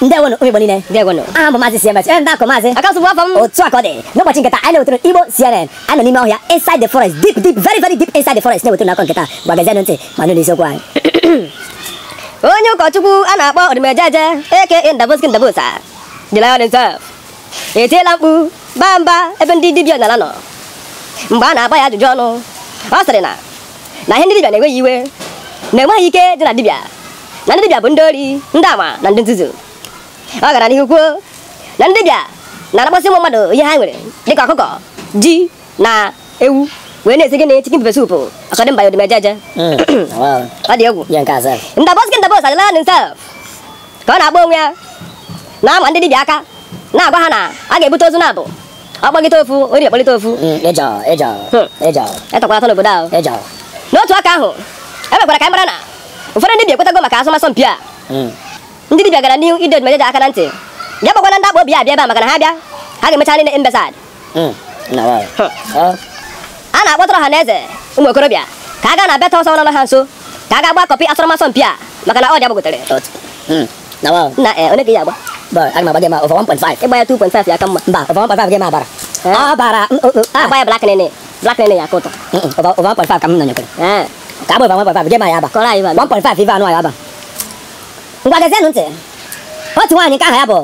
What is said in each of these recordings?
ndewonụ ụmụ igbo niile ndewonụ aha m bụ maazị cms ee ndị akọ maazị akasụ bụ afa m otu a ka ọ dị n'ụbọchị nke taa anyị na-ewetara igbo cnn anyị nọ n'ime ọhịa inside the forest deep deep very very deep inside the forest na-ewetara unu akụkọ nke taa ngwa gezienụ ntị ma nụ n'isiokwu anyị onye ụkọchukwu a na-akpọ odumejeje aka ndaboski ndabosa the lion himself etiela mkpu baa mba ebe ndị dibịa ọdịnala nọ mgbe a na-agba ya ajụjụ ọnụ ọ sịrị na na ihe ndị dibịa na-ewe ya iwe na e nweghị ike dị na dibịa na ndị dibịa bụ ndị ori ndị ama na ndị nzuzu ọ gara n'ihu kwuo na ndị dibịa na-anapụsị ụmụ mmadụ ihe ha nwere dịka ọkụkọ ji na ewu wee na-esi ji na chicken pepper soup according by odumejeje ọ dị egwu ndaboski ndabosa the lion himself ka ọ na-akpọ onwe ya na-ama ndị dibịa aka na-agwa ha na a ga-ebute ozu naabọ agbagịta ofu ori akpọlite ofu Mm, ịjọ ịjọ Hmm. ịjọ etakwara atọ n'obodo ahụ ịjọ n'otu aka ahụ e mekwara ka anyị mara na ụfọdụ ndị dibịa ekwetago maka asọmasọ mpi a Mm. ndị dibịa gara n'ihu ịdọ odumejeje aka na ntị ya kpọkwana ndị akpụ obi a bịa ebe a maka na ha bịa ha ga-emecha ha niile imbecile Mm. na wa Huh. ọ a na-akpọtụrụ ọha na eze ụmụ okorobịa ka ha gaa na bet house nọ ha nso ka ha gaa gbaa kọpị asọmasọ mpi a maka na odd ya gbagotere otu Mm. na wa na eh one ka ya agba ba aga m agba gị ma over 1.5 ịgba ya 2.5 ya ka mma mba over 1.5 gị ma abara Eh. abara mm, oh, oh, ah, agba ya black nene black nene ya ka ụtọ mm, mm, over over 1.5 ka m nọ nyekwere ee ka abụ over 1.5 gị ma ya aba kọrọ anyị bana 1.5 ife anụ ya aba ngwa gezienụ ntị otu nwaanyị nke aha ya bụ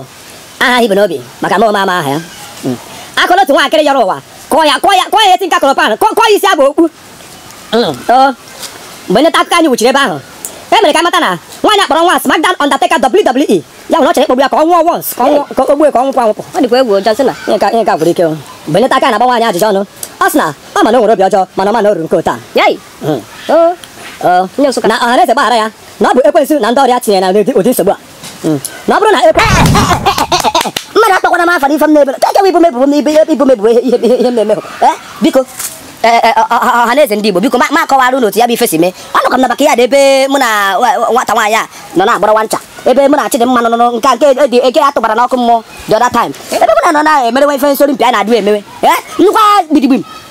aha ibu n'obi maka na anyị ama aha ya Mm. akụrụ otu nwaakịrị yọrọ ụwa kụọ ya kụọ ya kụọ ya ihe tinker kụrụ pan kụọ kụọ ya isi aba okpu mgbe ndị nta akụkọ anyị wuchiri ebe ahụ e mere ka a mata na nwaanyị a kpọrọ nwa SmackDown Undertaker WWE ya nwa ọ chọrọ ịkpọgbu ya ka ọ nwụọ once ka o gbue ka ọ nwụkwa anwụpụ ọ dịkwa egwu ụjọ sị na ihe ka ihe ka gwụrụ ike mgbe ndị nta akụkọ na-agba nwaanyị a ajụjụ ọnụ ọ sị na ọ ma na o nwere obi ọjọọ mana ọ ma na o ruru nke otu a na ọhaneze gbaghara ya na ọ bụ ekwensu na ndị ọrụ ya tinyere ya na ụdị nsogbu a Hmm. na ọ bụrụ na e- mmadụ akpọkwana m afa n'ife m na-ebere ka ekewa ibo m ebubo m ibo m ebubo ihe m na-eme eh, biko eh, eh, ọha na eze ndị Igbo biko ka m kọwara unu otu ya bụ ife si mee anọkwa m na backyard ebe mụ na nwata nwaanyị a nọ na-agbara nwa ncha ebe mụ na Chidịmma nọ nke nke dị eke ya tụbara n'ọkụ mmụọ the other time ebe mụ na nọ na-emerewe ife nsori mpi a na-adịghị emewe nnukwu gbidigbim